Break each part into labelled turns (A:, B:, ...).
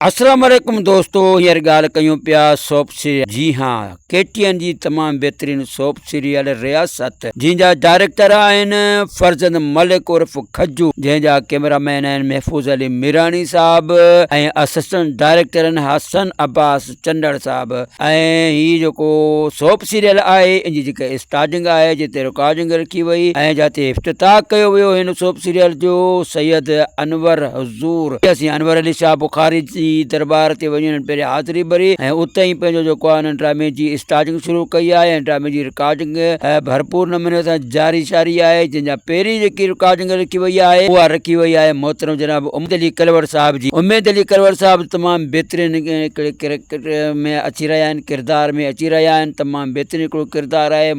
A: اسلام عليڪم دوستو هينئر ڳالهه ڪيون پيا سوپ سيريل جي ها ڪي ٽي اين جي تمام بهترين سوپ سيريل رياست جنهن جا ڊائريڪٽر آهن فرزند ملڪ عرف کجو جنهن جا ڪيمرا مين آهن محفوظ علي ميراڻي صاحب ۽ اسسٽنٽ ڊائريڪٽر آهن حسن عباس چنڊڙ صاحب ۽ هي جيڪو سوپ سيريل آهي ان جي جيڪا اسٽارٽنگ آهي جتي رڪارڊنگ رکي وئي ۽ جتي افتتاح ڪيو ويو هن سوپ سيريل جو سيد انور زور ڏئي سيان انور علي شاهه بخاري جي درٻار تي وڃي انهن پهرين حاضري ڀري ۽ اتي ئي پنهنجو جيڪو آهي انهن ڊرامي جي اسٽاجنگ شروع ڪئي آهي ۽ ڊرامي جي رڪارڊنگ ڀرپور نموني سان جاري شاري آهي جنهن جا پهرين جيڪي رڪارڊنگ رکي وئي آهي اها رکي وئي آهي محترم جناب اميد علي ڪلوڙ صاحب جي اميد علي ڪلوڙ صاحب تمام بهترين هڪڙي ڪريڪٽر ۾ اچي رهيا آهن ڪردار ۾ اچي رهيا آهن تمام بهترين هڪڙو ڪردار آهي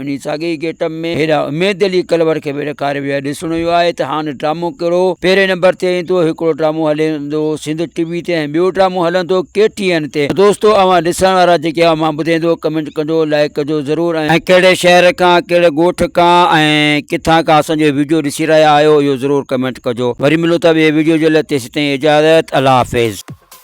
A: انهي ساڳئي ئي گيٽ اپ ۾ هيرا اميد علي ڪلور کي به ڏيکاريو ويو آهي، ڏسڻو اهو آهي ته هاڻ ڊرامو ڪهڙو پهرين نمبر تي ايندو، هڪڙو ڊرامو هلندو سنڌ ٽي وي تي ۽ ٻيو ڊرامو هلندو ڪي ٽي اين تي، ته دوستو اوهان ڏسڻ وارا جيڪي آهيو مان ٻڌيندو ڪمينٽ ڪجو لائيڪ ڪجو ضرور ۽ ڪهڙي شهر کان ڪهڙي ڳوٺ کان ۽ ڪٿان کان اسان جو ويڊيو ڏسي رهيا آهيو اهو ضرور ڪمينٽ ڪجو وري ملون ٿا ٻئي ويڊيو جي لاء تيسين تائين اجازت الله حافظ.